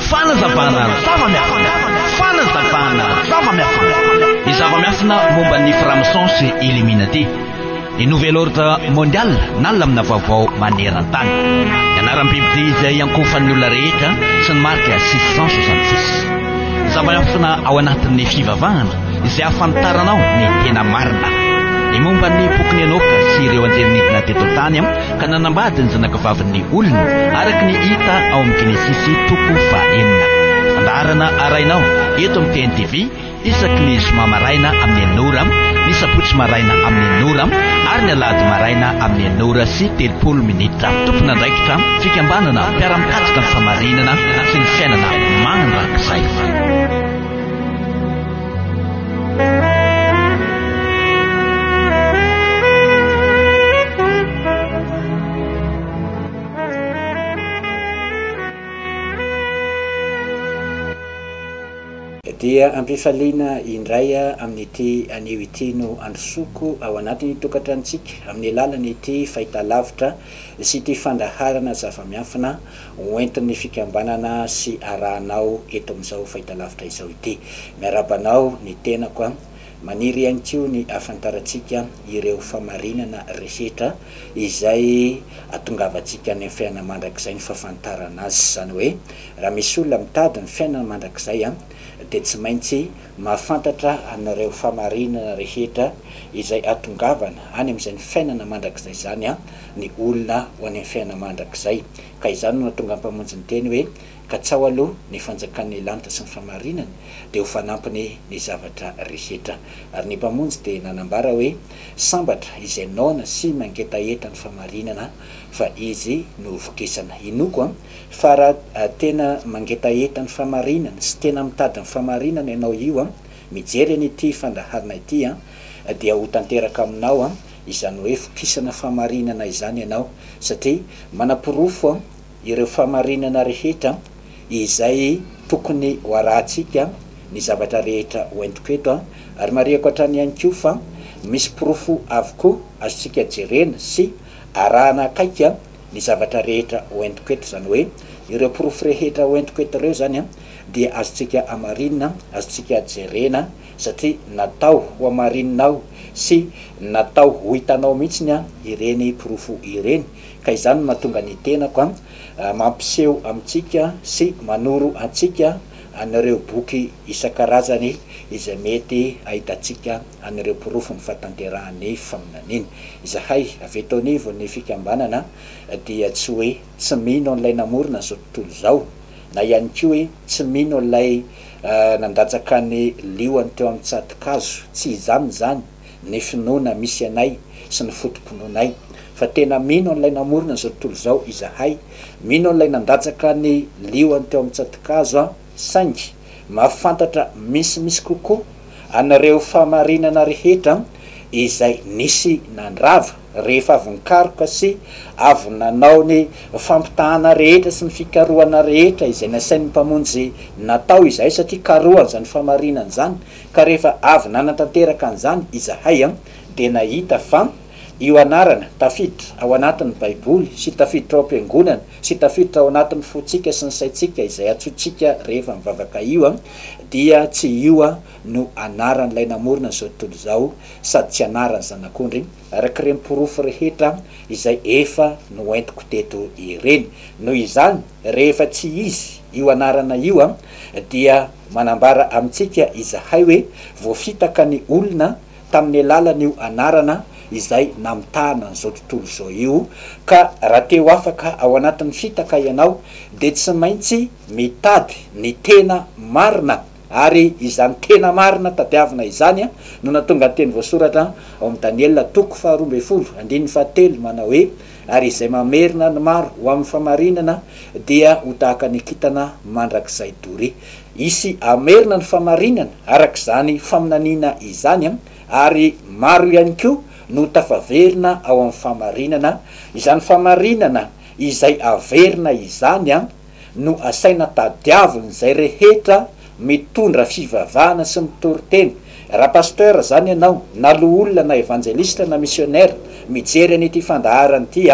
Fanazavana zava-miafina. Fanazavana zava-miafina. Ny zava-miafina momba ny Franc-maçon sy Illuminati. Ny Nouvel Ordre Mondial na lamina vaovao maneran-tany. Ny anaram-bibidia izay iankofan'ny olona rehetra sy ny marika 666. Ny zava-miafina ao anatin'ny fivavahana. izay ahafantaranao ny tena marina. Ny momba ny bokin'i Enoka sy ireo anjely nidina teto an-tany ka nanambady ny zanakavavin'ny olona, araka ny hita ao amin'ny Genesisy toko fahenina. Fandaharana arahinao eto amin'ny TNTV isaky ny zoma maraina amin'ny enina ora, ny sabotsy maraina amin'ny enina ora ary ny alahady maraina amin'ny enina ora sy telopolo minitra. Tompon'andraikitra fikambanana mpiara-mikatsaka ny famarinana sy ny fiainana mandrakizay. Dia ampifaliana indray amin'ity anio ity no androsoako ao anatin'ny tokantranontsika amin'ny alalan'ity fahitalavitra sy ity fandaharana zava-miafina ho entin'ny fikambanana sy arahanao eto amin'izao fahitalavitra izao ity. Miarahaba anao ny tenako a! Maniry ihany koa ny hahafantarantsika ireo famarinana rehetra izay atongavantsika any amin'ny fiainana mandrakizay ny fahafantarana azy. Izany hoe raha misy olona mitady ny fiainana mandrakizay dia tsy maintsy Mahafantatra anareo famarinana rehetra izay hatongavana any amin'izay ny fiainana mandrakizay izany an, ny olona ho any amin'ny fiainana mandrakizay. Ka izany no nahatonga ny Mpamonjy niteny hoe, Katsaho aloha ny fanjakan'ny lanitra sy ny famarinany, dia ho fanampiny ny zavatra rehetra. Ary ny Mpamonjy dia nanambara hoe, Sambatra izay noana sy mangetaheta ny famarinana, fa izy no hovokisana. Inoako an, fa raha tena mangetaheta ny famarinana sy tena mitady ny famarinana ianao io an, mijery an ity fandaharana ity an, dia ho tanteraka aminao an, izany hoe vokisana famarinana izany ianao, satria manaporofo an, ireo famarinana rehetra izay tokony ho arahantsika ny zavatra rehetra ho entiko eto an, ary marihako hatrany ihany koa fa misy porofo avokoa azontsika jerena sy. Arahana akaiky an, ny zavatra rehetra hoentiko eto, izany hoe, ireo porofo rehetra hoentiko eto ireo izany an, dia azontsika amarinina, azontsika jerena, satria natao hoamarininao sy natao hohitanao mihitsy ny an, ireny porofo ireny. Ka izany no mahatonga ny tenako an, mampiseho amintsika sy manoro antsika an'ireo boky isan-karazany izay mety hahitantsika an'ireo porofo ny fahatanterahan'ny faminaniana. Izahay avy eto anivon'ny fikambanana dia tsy hoe tsy mino an'ilay namorona an'izao tontolo izao, na ihany koa hoe tsy mino an'ilay nandatsaka ny lioany teo amin'ny tsato-kazo, tsy izany izany ny finoana misy anay sy ny foto-pinoanay, fa tena mino an'ilay namorona an'izao tontolo izao izahay, mino an'ilay nandatsaka ny lioany teo amin'ny tsato-kazo. Saingy mahafantatra misimisy kokoa an'ireo fahamarinana rehetra izay nisy nandrava rehefa avy nikaroka sy avy nanao ny fampitahana rehetra sy ny fikarohana rehetra izay nasain'ny Mpamonjy natao izahay, satria karohany izany fahamarinana izany, ka rehefa avy nanatanteraka an'izany izahay dia nahita fa. Io anarana, tafiditra ao anatin'ny Baiboly sy tafiditra ao am-piangonana sy tafiditra ao anatin'ny fontsika sy ny saintsika izay antsointsika rehefa mivavaka io dia tsy io no anaran'ilay namorona izao tontolo izao sady tsy anaran'ny Zanak'ondry araka ireny porofo rehetra izay efa noentiko teto ireny. Noho izany, rehefa tsy izy io anarana io dia manambara amintsika izahay hoe voafitaka ny olona tamin'ny alalan'io anarana izay namitahana an'izao tontolo izao io, ka raha te ho afaka ao anatin'ny fitaka ianao dia tsy maintsy mitady ny tena marina, ary izany tena marina tadiavina izany no nahatonga ny teny voasoratra ao amin'ny Daniela toko faharoa ambin'ny folo andininy fahatelo manao hoe, Ary izay mamerina ny maro ho amin'ny fahamarinana dia ho tahaka ny kintana mandrakizay doria. Hisy hamerina ny famarinana araka izany faminaniana izany ary maro ihany koa no tafaverina ao amin'ny famarinana, izany famarinana izay averina izany no asaina tadiavin'izay rehetra mitondra fivavahana sy mitory teny. Raha Pasteur izany ianao na loholona na Evanjelistra na Misionera mijery an'ity fandaharana ity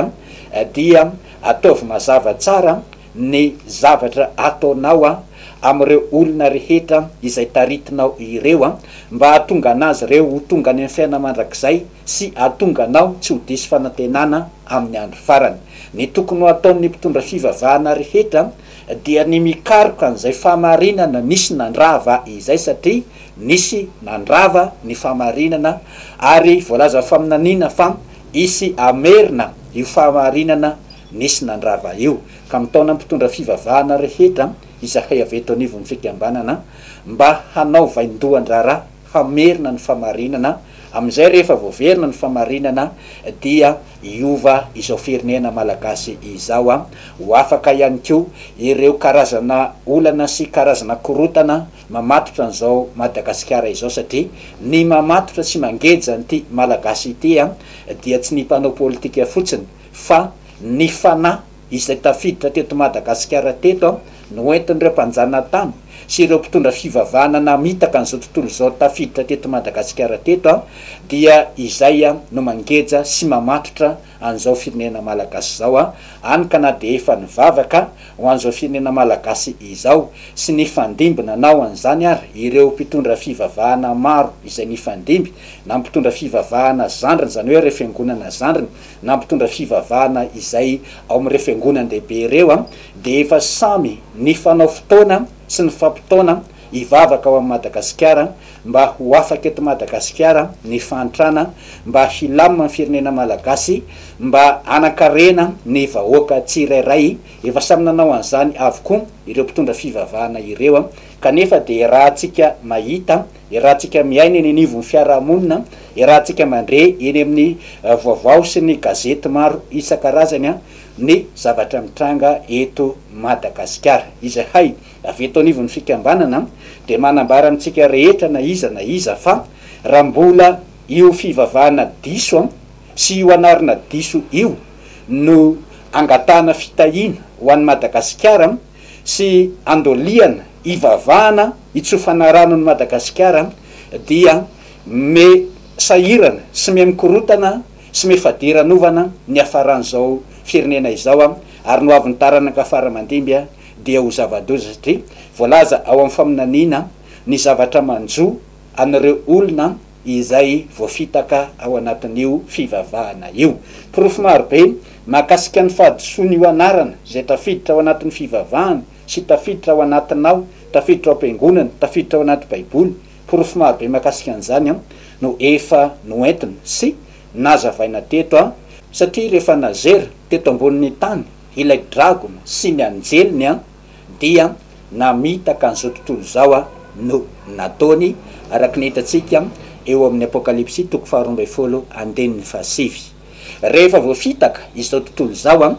dia ataovy mazava tsara ny zavatra ataonao amin'ireo olona rehetra izay taritinao ireo, mba hahatonga an'azy ireo ho tonga any amin'ny fiainana mandrakizay sy hahatonga anao tsy ho diso fanantenana amin'ny andro farany. Ny tokony ho ataon'ny mpitondra fivavahana rehetra dia ny mikaroka an'izay fahamarinana nisy nandrava izay, satria nisy nandrava ny fahamarinana ary voalazan'ny faminaniana fa hisy hamerina io fahamarinana Nisy nandrava io ka mitaona mpitondra fivavahana rehetra izahay avy eto anivon'ny fikambanana mba hanao vaindohan-draharaha hamerina ny fahamarinana, amin'izay rehefa voaverina ny fahamarinana dia hiova izao firenena malagasy izao, ho afaka ihany koa ireo karazana olana sy karazana korotana mamatotra an'izao Madagasikara izao satria ny mamatotra sy mangeja an'ity Malagasy ity dia tsy ny mpanao politika fotsiny fa ny fanahy izay tafiditra teto Madagasikara teto no entin'ireo mpanjanatany sy ireo mpitondra fivavahana namitaka an'izao tontolo izao tafiditra teto Madagasikara teto dia izay no mangeja sy mamatotra an'izao firenena Malagasy izao any ka na dia efa nivavaka ho an'izao firenena Malagasy izao sy nifandimby nanao an'izany ary ireo mpitondra fivavahana maro izay nifandimby na mpitondra fivavahana zandriny izany hoe ireo fiangonana zandriny na mpitondra fivavahana izay ao amin'ireo fiangonan-dehibe ireo dia efa samy nifanao fotoana sy nifampitaona hivavaka ao amin'i Madagasikara mba ho afaka eto Madagasikara ny fahantrana, mba hilamina ny firenena Malagasy, mba hanankarena ny vahoaka tsirairay, efa samy nanao an'izany avokoa ireo mpitondra fivavahana ireo kanefa dia raha antsika mahita Iarahantsika miaina eny anivon'ny fiarahamonina, iarahantsika mandre eny amin'ny voavao sy ny gazety maro isan-karazany ny zavatra mitranga eto Madagasikara. Izahay avy eto anivon'ny fikambanana dia manambara amintsika rehetra na iza na iza fa raha mbola io fivavahana diso sy io anarana diso io no angatahana fitahiana ho an'i Madagasikara, sy andoliana hivavahana hitsofana rano an'i Madagasikara dia miha sahirana sy miha mikorotana sy miha fadiranovana ny hiafaran'izao firenena izao ary ny ho avin'ny taranaka fara mandimby dia ho zava-doza satria voalaza ao amin'ny faminaniana ny zavatra manjo an'ireo olona izay voafitaka ao anatin'io fivavahana io. Porofo maro be mahakasika ny fahadisoan'io anarana izay tafiditra ao anatin'ny fivavahana sy tafiditra ao anatinao, tafiditra ao am-piangonana, tafiditra ao anaty Baiboly, porofo maro be mahakasika an'izany no efa noentina sy nazavaina teto an! Satria rehefa nazera teto ambonin'ny tany ilay dragona sy ny anjeliny an! dia namitaka an'izao tontolo izao no nataony, araka ny hitantsika eo amin'ny Apokalypsy toko faharoa ambin'ny folo andininy fahasivy. Rehefa voafitaka izao tontolo izao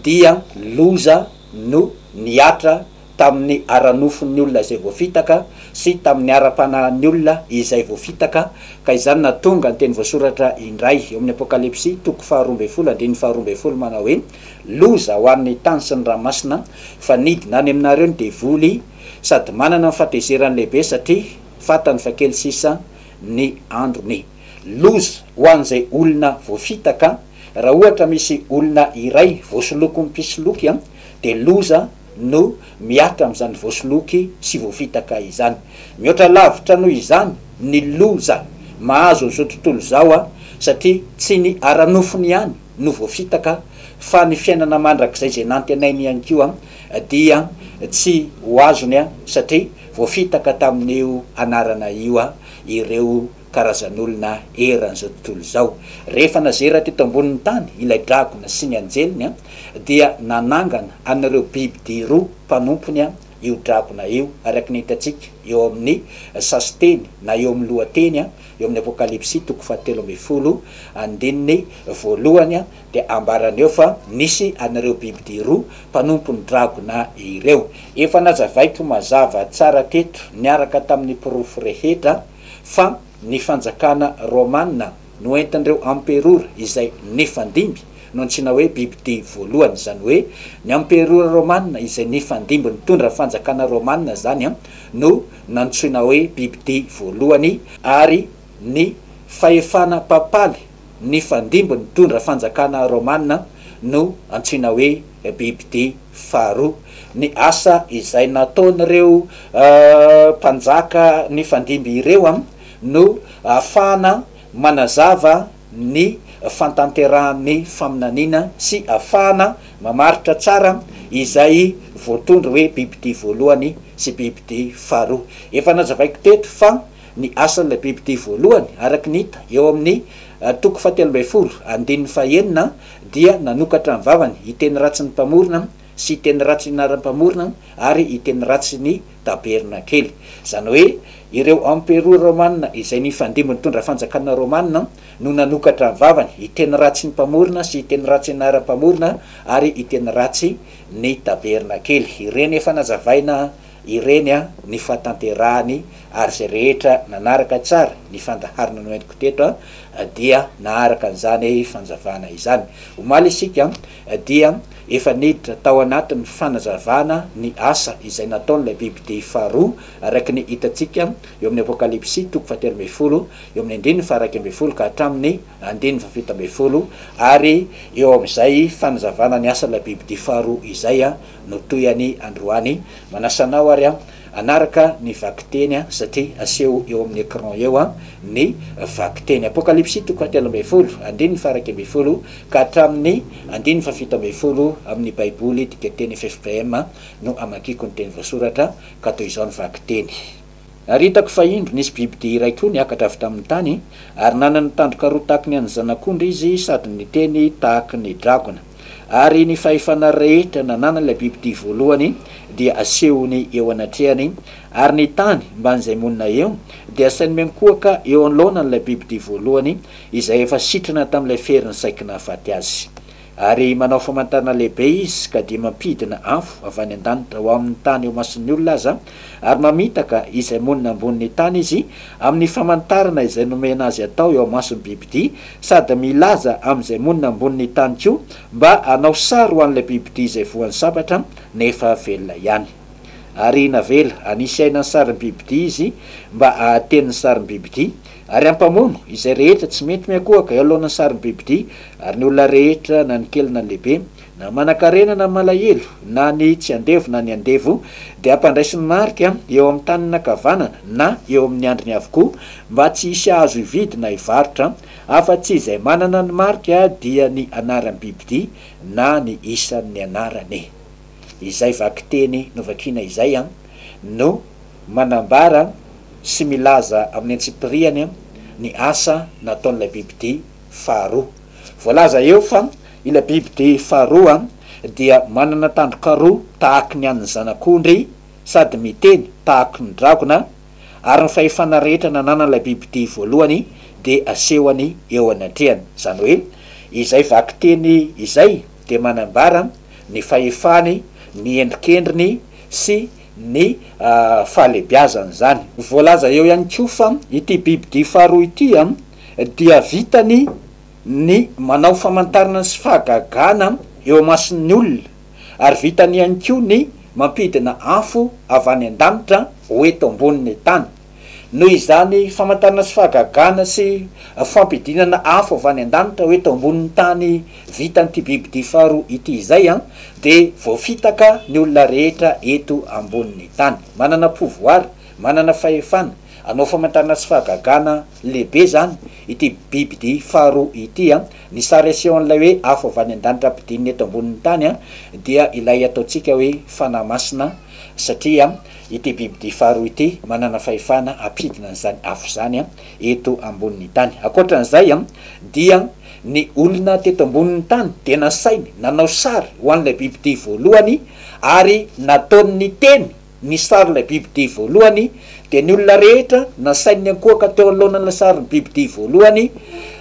dia loza no nihatra tamin'ny ara-nofon'ny olona izay voafitaka sy tamin'ny ara-panahin'ny olona izay voafitaka, ka izany nahatonga ny teny voasoratra indray eo amin'ny Apokalypsy toko faharoa ambin'ny folo andininy faharoa ambin'ny folo manao hoe. Loza ho an'ny tany sy ny ranomasina fa nidina any aminareo ny devoly sady manana ny fatezerany lehibe satria fantany fa kely sisa ny androny. Loza ho an'izay olona voafitaka, raha ohatra misy olona iray voasolokin'ny mpisoloky dia loza no mihatra amin'izany voasoloky sy voafitaka izany. Mihoatra lavitra noho izany ny loza mahazo an'izao tontolo izao satria tsy ny ara-nofony ihany no voafitaka fa ny fiainana mandrakizay izay nantenainy ihany koa dia tsy ho azony satria voafitaka tamin'io anarana io ireo karazan'olona eran'izao tontolo izao. Rehefa nazera teto ambonin'ny tany ilay dragona sy ny anjeliny dia nanangana an'ireo biby dia roa mpanompony io dragona io araka ny hitantsika eo amin'ny sasiteny na eo amin'ny lohateny Eo amin'ny Apokalypsy toko fahatelo ambin'ny folo andininy voalohany dia ambarany eo fa nisy an'ireo bibidia roa mpanompon'ny dragona ireo. Efa nazavaiko mazava tsara teto niaraka tamin'ny porofo rehetra fa ny fanjakana romana noentin'ireo amperora izay nifandimby no antsoina hoe bibidia voalohany. Izany hoe ny amperora romana izay nifandimby nitondra fanjakana romana izany no nantsoina hoe bibidia voalohany ary ny fahefana papaly nifandimby nitondra fanjakana romana no antsoina hoe bibidia faharoa. Ny asa izay nataon'ireo mpanjaka nifandimby ireo no ahafahana manazava ny fantanterahan'ny faminaniana sy ahafahana mamaritra tsara izay voatondro hoe bibidia voalohany CPIPD faharoa. Efa nazavaiko teto fa ny asan'ilay BIPD voalohany, araka ny hita eo amin'ny toko fahatelo ambin'ny folo, andininy fahaenina, dia nanokatra ny vavany hiteny ratsy ny Mpamorona sy hiteny ratsy ny anaran'ny Mpamorona ary hiteny ratsy ny Tabernakely. Izany hoe ireo emperora romanina izay nifandimby nitondra fanjakana romanina no nanokatra ny vavany hiteny ratsy ny Mpamorona sy hiteny ratsy ny anaran'ny Mpamorona ary hiteny ratsy ny tabernakely. Ireny efa nazavaina ireny ny fahatanterahany, ary izay rehetra nanaraka tsara ny fandaharana noentiko teto dia naharaka an'izany fanazavana izany. Omaly isika dia efa niditra tao anatin'ny fanazavana ny asa izay nataon'ilay bibidia faharoa, araka ny hitantsika eo amin'ny Apokalypsy toko fahatelo ambin'ny folo, eo amin'ny andininy faha-iraika ambin'ny folo ka hatramin'ny Andininy fahafito ambin'ny folo, Ary eo amin'izay fanazavana ny asan'ilay bibidia faharoa izay no toy an'i androany, manasa anao ary hanaraka ny vakiteny satria aseho eo amin'ny écran eo ny vakiteny. Apokalypsy toko fahatelo ambin'ny folo, andininy faharaika ambin'ny folo ka hatramin'ny andininy fahafito ambin'ny folo amin'ny Baiboly dikanteny FFPM no amakiako ny teny voasoratra ka toy izao ny vakiteny. Ary hitako fa indro nisy bibidia iray koa niakatra avy tamin'ny tany, ary nanana tandroka roa tahaky ny an'ny zanak'ondry izy sady niteny tahaky ny dragona. Ary ny fahefana rehetra nananan'ilay bibidia voalohany dia asehony eo anatrehany, ary ny tany mban'izay monina eo dia asainy miankohoka eo anoloanan'ilay bibidia voalohany izay efa sitrana tamin'ilay ferin'ny saiky nahafaty azy. Ary manao famantarana lehibe izy ka dia mampidina afo avy any an-danitra ho amin'ny tany eo imason'ny olona aza, ary mamitaka izay monina ambonin'ny tany izy amin'ny famantarana izay nomena azy atao eo imason'ny bibidia, sady milaza amin'izay monina ambonin'ny tany koa mba hanao sary ho an'ilay bibidia izay voan'ny sabatra nefa velona ihany. Ary navela hanisy aina ny sarin'ny bibidia izy mba hahateny ny sarin'ny bibidia, Ary hampamono izay rehetra tsy mety miankohoka eo alohan'ny sarim-bibidia, ary ny olona rehetra, na ny kely na ny lehibe, na manankarena na malahelo, na ny tsy andevo na ny andevo, dia hampandraisiny marika eo amin'ny tanany ankavanana na eo amin'ny andriny avokoa, mba tsy hisy hahazo hividy na hivarotra, afa-tsy izay manana ny marika dia ny anaram-bibidia na ny isan'ny anarany. izay vakiteny novakina izay no manambara sy milaza amin'ny antsipiriany ny asa nataon'ilay bibidia faharoa. Voalaza eo fa ilay bibidia faharoa dia manana tandroka roa tahaky ny an'ny zanak'ondry sady miteny tahaky ny dragona ary ny fahefana rehetra nananan'ilay bibidia voalohany dia asehony eo anatrehany. Izany hoe izay vakiteny izay. dia manambara ny fahefany, ny endrikendriny sy ny fahalebiazany izany. Voalaza eo ihany koa fa ity bibidia faharoa ity dia vitany ny manao famantarana sy fahagagana eo imason'ny olona ary vitany ihany koa ny mampidina afo avy any an-danitra ho eto ambonin'ny tany. noho izany famantarana sy fahagagana sy fampidinana afo avy any an-danitra hoe tao ambonin'ny tany vitan'ity bibidia faharoa ity izay an, dia voafitaka ny olona rehetra eto ambonin'ny tany. Manana pouvoir, manana fahefana, hanao famantarana sy fahagagana lehibe izany ity bibidia faharoa ity an. Ny sary asehon'ilay hoe afo avy any an-danitra ampidinina eto ambonin'ny tany an, dia ilay ataontsika hoe fanahy masina satria. Ity bibidia faharoa ity manana fahefana hampidina an'izany afo izany eto ambonin'ny tany. Ankoatran'izay dia ny olona teto ambonin'ny tany dia nasainy nanao sary ho an'ilay bibidia voalohany ary nataony niteny ny sarin'ilay bibidia voalohany dia ny olona rehetra nasainy niankohoka teo anoloanan'ilay sarin'ny bibidia voalohany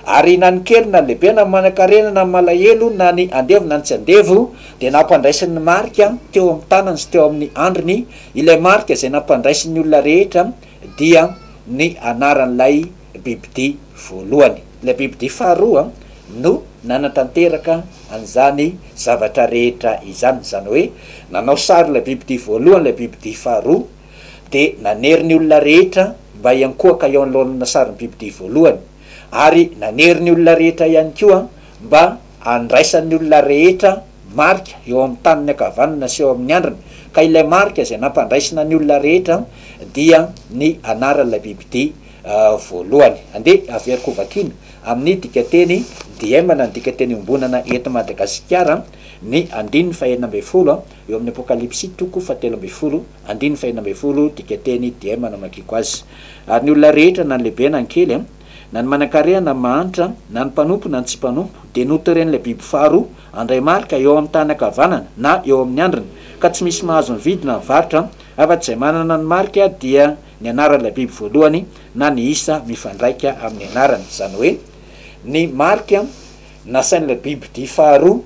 ary na ny kely na ny lehibe na ny manankarena na ny malahelo na ny andevo na ny tsy andevo Dia nampandraisiny ny marika teo amin'ny tanany sy teo amin'ny andriny, ilay marika izay nampandraisin'ny olona rehetra dia ny anaran'ilay bibidia voalohany. Ilay bibidia faharoa no nanatanteraka an'izany zavatra rehetra izany, izany hoe nanao sary ilay bibidia voalohany ilay bibidia faharoa, dia nanery ny olona rehetra mba hiankohoka eo anoloan'ilay sarin'ny bibidia voalohany, ary nanery ny olona rehetra ihany koa mba Andraisan'ny olona rehetra marika eo amin'ny taniny ankavanana sy eo amin'ny andriny, ka ilay marika izay nampandraisina ny olona rehetra dia ny anaran'ilay bibidia voalohany. Andeha averiko hovakiana amin'ny dikanteny DM na ny dikanteny iombonana eto Madagasikara ny andininy fahenina ambin'ny folo eo amin'ny Apokalypsy toko fahatelo ambin'ny folo andininy fahenina ambin'ny folo dikanteny DM no amakiako azy. Ary ny olona rehetra na ny lehibe na ny kely Na ny manan-kareha na ny mahantra, na ny mpanompo na ny tsy mpanompo, dia noteren'ilay biby faharoa handray marika eo amin'ny tany ankavanana na eo amin'ny handriny, ka tsy misy mahazo mividy na mivarotra afa-tsy izay manana ny marika dia ny anaran'ilay biby voalohany na ny isa mifandraika amin'ny anarany, izany hoe, ny marika nasain'ilay bibidia faharoa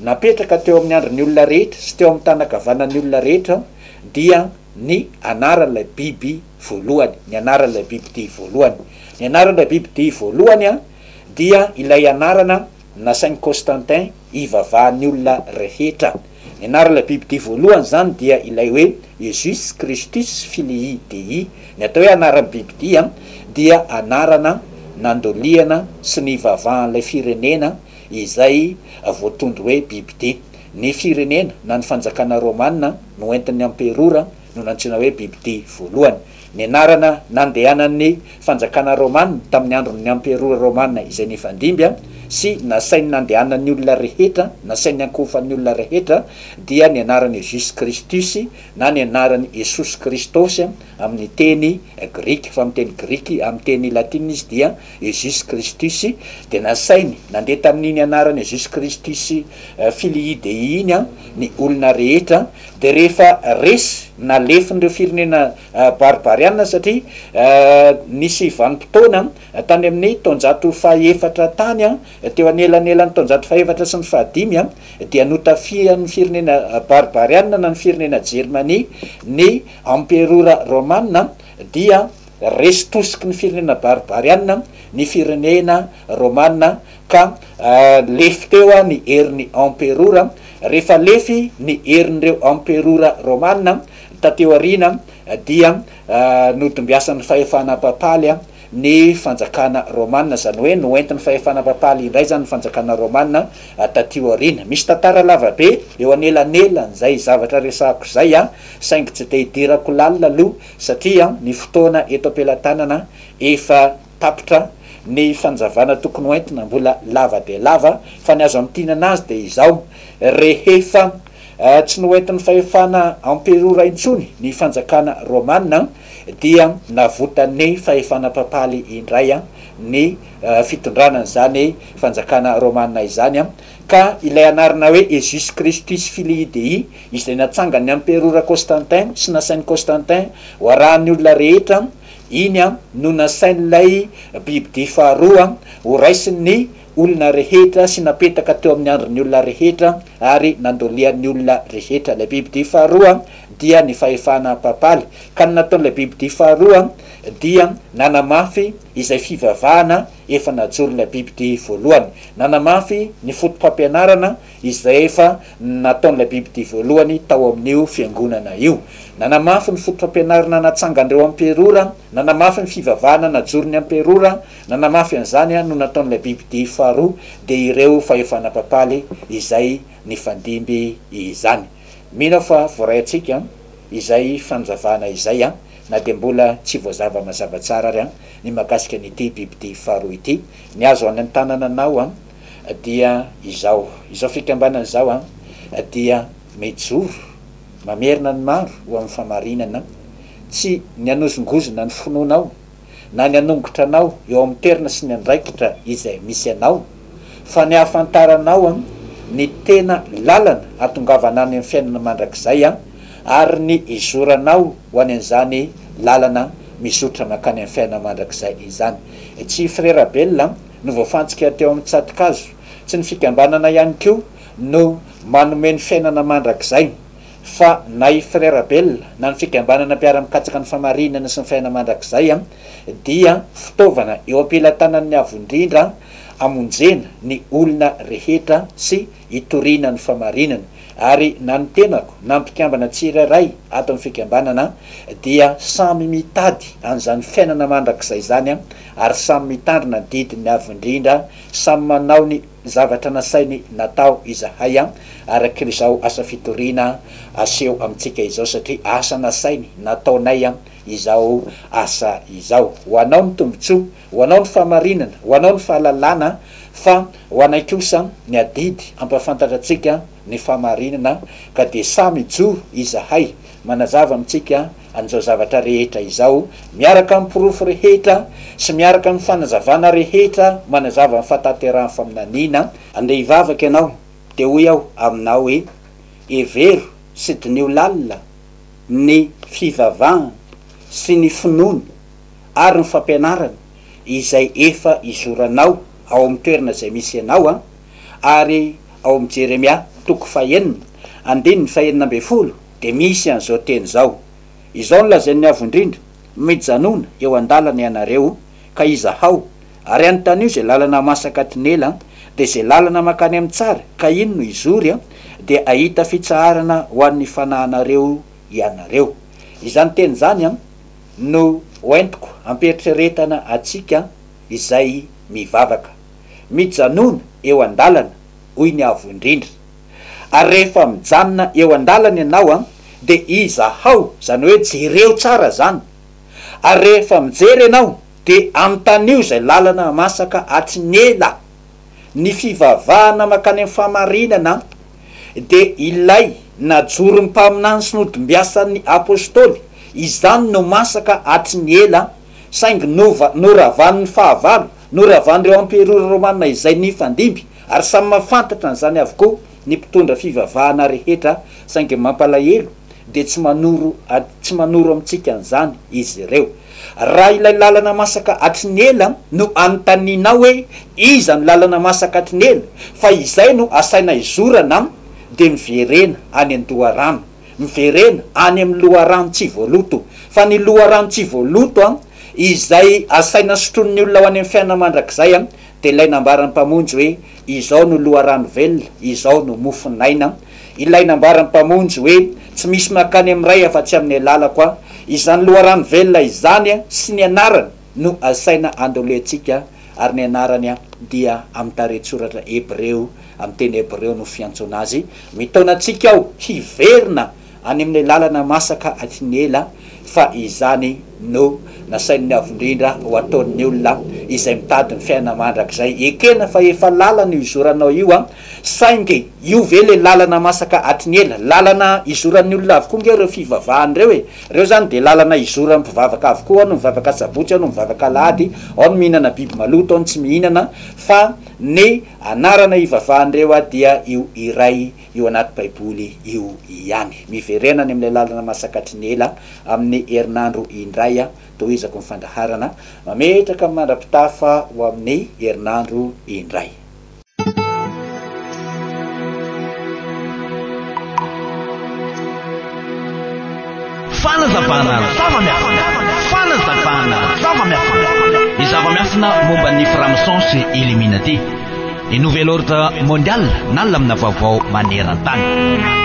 napetraka teo amin'ny handrin'ny olona rehetra sy teo amin'ny tany ankavanan'ny olona rehetra dia ny anaran'ilay biby voalohany, ny anaran'ilay bibidia voalohany. Ny anaran'ilay bibidia voalohany dia ilay anarana nasain'i Constantin hivavahan'ny olona rehetra. Ny anaran'ilay bibidia voalohany izany dia ilay hoe Iesus Kristus Filii Dei. Ny atao hoe anaran'ny bibidia dia anarana nandoliana sy nivavahan'ilay firenena izay voatondro hoe bibidia. Ny firenena na ny fanjakana romana no entin'ny amperora no nantsoina hoe Bibidia voalohany. Ny anarana nandehanan'ny fanjakana Romana tamin'ny andron'ny Amperora Romana izay nifandimby sy nasainy nandehanan'ny olona rehetra, nasainy ankohofan'ny olona rehetra, dia ny anarany Jus Christus na ny anarany Iesus Kristos amin'ny teny grika, fa amin'ny teny grika, amin'ny teny latina izy dia. Ezus Christus, dia nasainy nandeha tamin'iny anarana Ezus Christus Filii Dei iny an, ny olona rehetra, dia rehefa resy na lefin'ireo firenena barbariana satria nisy vanim-potoana tany amin'ny taonjato fahaefatra tany an, teo anelanelan'ny taonjato fahaefatra sy ny fahadimy an, dia notafihan'ny firenena barbariana na ny firenena Jermania ny Amperora Romana dia Resy tosiky ny firenena baribarianina ny firenena romana ka lefy teo ny herin'ny emperora. Rehefa lefy ny herin'ireo emperora romana tateo aoriana dia nodimbiasan'ny fahefana papaly ny fanjakana romana, izany hoe noentin'ny fahefana papaly indray izany ny fanjakana romana taty aoriana. Misy tantara lava be eo anelanelan'izay zavatra resahako izay saingy tsy dia hidirako lalina aloha Satria ny fotoana eto am-pelatanana efa tapitra, ny fanazavana tokony ho entina mbola lava dia lava, fa ny azo amintinana azy dia izao, rehefa tsy noentin'ny fahefana emperora intsony ny fanjakana romana dia navotan'ny fahefana papaly indray ny fitondrana an'izany fanjakana romana izany Ka ilay anarana hoe Ezus Christus Filii Dei, izay natsangan'ny Amperora Constantin sy nasain'i Constantin ho arahan'ny olona rehetra, iny no nasain'ilay bibidia faharoa ho raisin'ny olona rehetra sy napetaka teo amin'ny andrin'ny olona rehetra ary nandolian'ny olona rehetra. Ilay bibidia faharoa dia ny fahefana papaly. Ka ny nataon'ilay bibidia faharoa dia nanamafy izay fivavahana efa najoro ny Abibd voalohany. Nanamafy ny fotopampianarana izay efa nataon'ilay Abibd voalohany tao amin'io fiangonana io. Nanamafy ny fotopampianarana natsangan'ireo amperora, nanamafy ny fivavahana najoron'ny amperora, nanamafy an'izany no nataon'ilay Abibd faharoa dia ireo fahefana papaly izay nifandimby izany. Mino aho fa voaray antsika izay fanazavana izay an! na dia mbola tsy voazava mazava tsara ary an! Ny mahakasika an'ity bibidia faharoa ity, ny azo any an-tanana anao dia izao, izao fikambanana izao dia mijoro mamerina ny maro ho amin'ny fahamarinana, tsy ny hanozongozona ny finoanao na ny hanongotra anao eo amin'ny toerana sy ny andraikitra izay misy anao, fa ny ahafantaranao an ny tena lalana hatongavanao any amin'ny fiainana mandrakizay an ary ny hizoranao ho any an'izany lalana mizotra mankany amin'ny fiainana mandrakizay izany. Tsy Frera Bell an no voafantsika teo amin'ny tsatokazo, tsy ny fikambanana ihany koa no manome ny fiainana mandrakizay fa na i Frera Bell na ny fikambanana mpiara-mikatsaka ny famarinana sy ny fiainana mandrakizay an dia fitaovana eo am-pelatanan'ny Avo Indrindra hamonjena ny olona rehetra sy hitoriana ny famarinana, ary na ny tenako na mpikambana tsirairay ato amin'ny fikambanana dia samy mitady an'izany fiainana mandrakizay izany ary samy mitandrina ny didiny avo indrindra, samy manao ny zavatra nasainy natao izahay araka izao asa fitoriana aseho amintsika izao satria asa nasainy nataonay izao asa izao ho anao ny tombontsoa Ho anao ny fahamarinana, ho anao ny fahalalana, fa ho anay kosa ny adidy hampahafantatra antsika ny fahamarinana, ka dia samy hijoro izahay manazava amintsika an'izao zavatra rehetra izao, miaraka amin'ny porofo rehetra sy miaraka amin'ny fanazavana rehetra manazava ny fahatanterahan'ny faminaniana. Andeha hivavaka ianao, dia hoy aho aminao hoe, Hevero sy diniho lalina ny fivavahany sy ny finoany. ary ny fampianarana izay efa izoranao ao amin'ny toerana izay misy ianao an! Ary ao amin'ny Jeremia toko fahenina, andininy fahenina ambin'ny folo dia misy an'izao teny izao, Izao no lazain'ny Avo Indrindra, Mijanona eo an-dalana ianareo, ka izahao, ary anontanio izay lalana masaka tinela, dia izay lalana mankany amin'ny tsara, ka iny no hizory an! dia hahita fitsaharana ho an'ny fanahinareo ianareo. Izany teny izany an! No hoentiko hampieritrieretana antsika izay mivavaka. Mijanona eo an-dalana, hoy ny Avo Indrindra. Ary rehefa mijanona eo an-dalana ianao dia izahao, izany hoe jereo tsara izany. Ary rehefa mijery ianao dia anontanio izay lalana masaka hatrin'ela. Ny fivavahana mankany amin'ny fahamarinana dia ilay najoron'ny mpaminany sy nodim-biasan'ny Apostoly, izany no masaka hatry ny ela, saingy nova, noravan'ny fahavalo, noravan'ireo emperora romana izay nifandimby, ary samy mahafantatra an'izany avokoa ny mpitondra fivavahana rehetra, saingy mampalahelo dia tsy manoro, tsy manoro amintsika an'izany izy ireo. Raha ilay lalana masaka hatry ny ela no anontanianao hoe iza no lalana masaka hatry ny ela fa izay no asaina hizorana dia miverena any an-doharano, miverena any amin'ny loharano tsy voaloto. Fa ny loharano tsy voaloto izay asaina sotroin'ny olona ho any amin'ny fiainana mandrakizay dia ilay nambaran'ny Mpamonjy hoe, Izao no loharano velona, izao no mofon'aina, ilay nambaran'ny Mpamonjy hoe, Tsy misy mankany amin'ny Ray afa-tsy amin'ny alalako aho. Izany loharano velona izany sy ny anarany no asaina andolentsika, ary ny anarany dia amin'ny tarehin-tsoratra hebreo, amin'ny teny hebreo no fiantsoana azy, mitaona antsika aho hiverina Any amin'ilay lalana masaka tsy ny ela fa izany no nasain'ny Avo Indrindra ho ataon'ny olona izay mitady ny fiainana mandrakizay. Ekena fa efa lalana io izoranao io an! Saingy io ve ilay lalana masaka hatry ny ela? Lalana izoran'ny olona avokoa ange ireo fivavahana ireo e! Ireo izany dia lalana izoran'ny mpivavaka avokoa, ao no mivavaka asabotsy, ao no mivavaka alahady, ao no mihinana biby maloto, ao no tsy mihinana, fa ny anarana ivavahan'ireo dia io iray io anaty Baiboly io ihany. Miverena any amin'ilay lalana masakatry ny ela amin'ny herinandro indray aho. Tohizako ny fandaharana. Mametraka ny mandra-pitafa ho amin'ny herinandro indray. Fanazavana zava-miafina Fanazavana zava-miafina Ny zava-miafina momba ny Framson sy Illuminati Ny Nouvel Ordre Mondial na lamina vaovao maneran-tany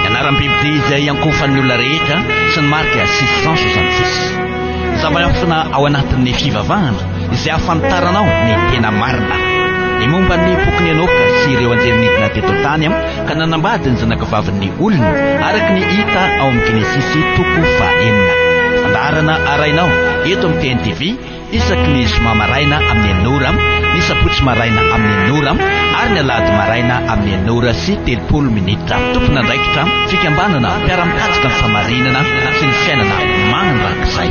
Ny anaram-bibidia izay iankohofan'ny olona rehetra sy ny marika 666 Ny zava-miafina ao anatin'ny fivavahana izay ahafantaranao ny tena marina Ny momba ny bokin'i Enoka sy ireo anjely nidina teto an-tany ka nanambady ny zanakavavin'ny olona, araka ny hita ao amin'ny Genesisy toko fahenina. Fandaharana arahina ao eto amin'ny TNTV isaky ny zoma maraina amin'ny enina ora, ny sabotsy maraina amin'ny enina ora ary ny alahady maraina amin'ny enina ora sy telopolo minitra. Tompon'andraikitra fikambanana mpiara-mikatsaka ny famarinana sy ny fiainana mandrakizay.